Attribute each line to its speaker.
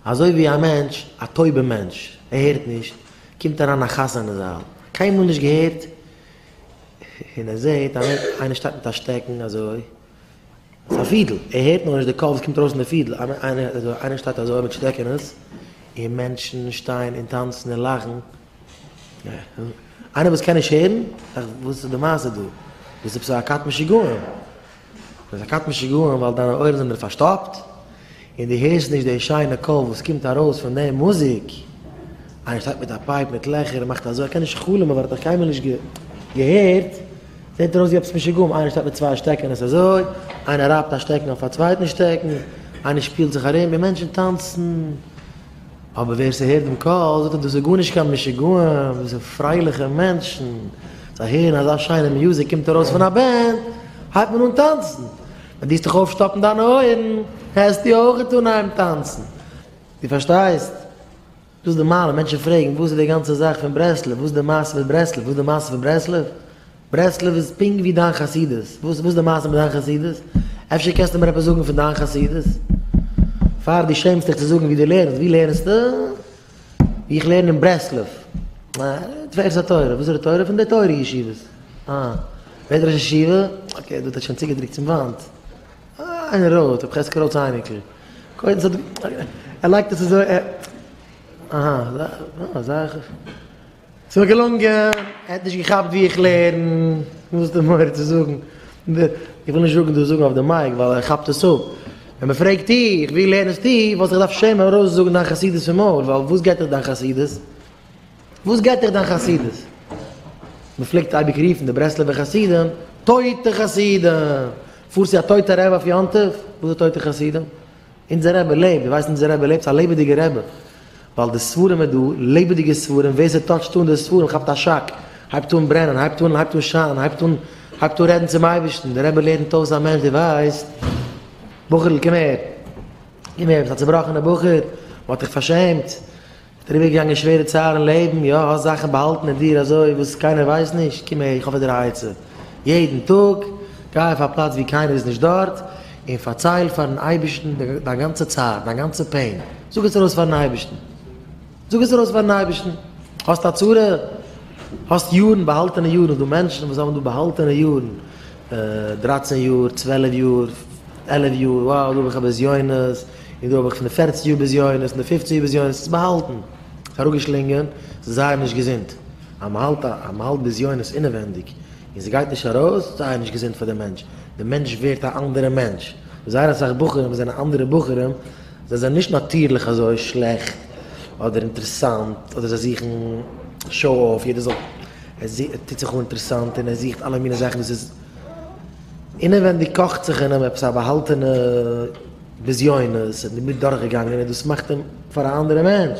Speaker 1: אזוי ווי א מענטש, א טויבע מענטש, ער הערט נישט, קומט אריין א חתן אין זאל, קיינמאל נישט געהערט, און ער זעהט אז איינער שטייט מיט א שטעקן אזוי, ס'איז א פידל, ער הערט נאר נישט די קול וואס קומט ארויס פון די פידל, איינער שטייט אזוי מיט שטעקענעס, און מענטשן שטייען און טאנצן און לאכן, איינער וואס קען נישט הערן, דאכט זיך וואס איז די מעשה דא, ביסט עפעס א כת משוגעים. דאס איז א קטן שיגעון ווייל דיינע אויערן זענען פארשטאפט און דו הערסט נישט די שיינע קול וואס קומט ארויס פון די מוזיק. איינער שטייט מיט א פייפ מיט לעכער און מאכט אזוי, ער קען נישט חלומ'ען ווייל ער האט דאך קיינמאל נישט געהערט. זעט ארויס ווי עפעס משוגעים, איינער שטייט מיט צוויי שטעקן און עס אזוי, איינער רייבט א שטעקן אויף א צווייטן שטעקן, איינער שפילט זיך ארום און מענטשן טאנצן. אבער ווער ס'הערט דעם קול זאגט ער דאס איז גארנישט קיין משוגעים, דאס זענען פרייליכע מענטשן, זיי הערן אזא שיינע מוזיק קומט ארויס פון א בענד הייבט מען אן טאנצן, ווען דו העסט דיך אויפשטאפן דיינע אויערן העסטו אויכעט אנהייבן טאנצן, דו פארשטייסט? דאס איז די מעלה, מענטשן פרעגן וואס איז די גאנצע זאך פון ברסלב, וואס איז די מעשה מיט ברסלב, וואס איז די מעשה פון ברסלב? ברסלב איז פונקט ווי דיין חסידות, וואס וואס איז די מעשה מיט דיין חסידות? אפשר קענסטו מיר עפעס זאגן פון דיין חסידות? פאר דו שעמסט דיך צו זאגן ווי דו לערנסט, ווי לערנסטו? ווי איך לערן אין ברסלב. אה, תפארת התורה, וואס איז די תורה? פון די תורה ישיבות. אה, ווער איז ראש ישיבה? אקעי, דו האט עס שוין צוגעדרוקט צום וואנט. אה, איינער רויט, ר' חזקי רויט'ס אייניקל. קודם ס'האט, ער לייגט עס אזוי, ער, אהא, אזא, אזא. ס'איז מיר געלונגען, ער האט נישט געכאפט ווי איך לערן, וואס די מורא צו זאגן, איך וויל נישט זאגן דאס זאגן אויף די מייק ווייל ער כאפט עס אפ, ווען מען פרעגט דיך ווי לערנסטו וואלט איך דארפט שעמען ארויס זאגן דיין חסידות פון מויל ווייל וואס גייט דיך דיין חסידות, וואס גייט דיך דיין חסידות, מען פלעגט אייביג רופן די ברסלב'ע חסידים טויטע חסידים, פארסט צו א טויטע רב אויף יום טוב, וואס איז טויטע חסידים, אונזער רבי לעבט, דו ווייסט אונזער רבי לעבט, ס'איז א לעבעדיגער רבי, ווייל די ספרים איז דא, לעבעדיגע ספרים, ווער ס'טאטשט אן די ספרים כאפט א שאק, הייבט אן ברענען, הייבט אן הייבט אן שיינען, הייבט אן הייבט אן רעדן צום אייבערשטן, דער רבי לערנט אויס א מענטש, דו ווייסט, בחור'ל קום הער, קום הער, ביסט א צובראכענער בחור, מ'האט דיך פארשעמט, דעריבערגעגאנגען שווערע צער אין לעבן, יא, האסט זאכן באהאלטן אין דיר אזוי וואס קיינער ווייסט נישט, קום אהער, איך האב פאר דיר א עצה, יעדן טאג גיי אויף א פלאץ וואו קיינער איז נישט דארט, און פארצייל פארן אייבערשטן דיין גאנצע צער, דיין גאנצע פעין, זאג עס ארויס פארן אייבערשטן, זאג עס ארויס פארן אייבערשטן, האסט א צרה? האסט יארן, באהאלטענע יארן, ס'דא מענטשן וואס האבן דא באהאלטענע יארן, דרייצן יאר, צוועלף יאר, עלף יאר, wow, דא האב איך א בזיונות, און דא האב איך פון די פערציג יאר בזיונות און די פופצן יאר בזיונות עס באהאלטן, זיך אראפגעשלינגען, ס'איז זייער נישט געזונט, אז מ'האלט א, אז מ'האלט בזיונות אינעווענדיג, און ס'גייט נישט ארויס, זייער נישט געזונט פאר די מענטש, די מענטש ווערט א אנדערע מענטש, זייער אסאך בחורים זענען אנדערע בחורים, זיי זענען נישט נאטירליך אזוי שלעכט, אדער אינטערעסאנט, אדער זיי זוכן שאו אויף, יעדער זאל, ער טוט זיך אן אינטערעסאנט און ער זוכט אלע מיני זאכן וואס איז. אינעווענדיג קאכט זיך אין אים עפעס א באהאלטענע בזיונות און דערמיט דורכגעגאנגען און דאס מאכט אים פאר א אנדערע מענטש.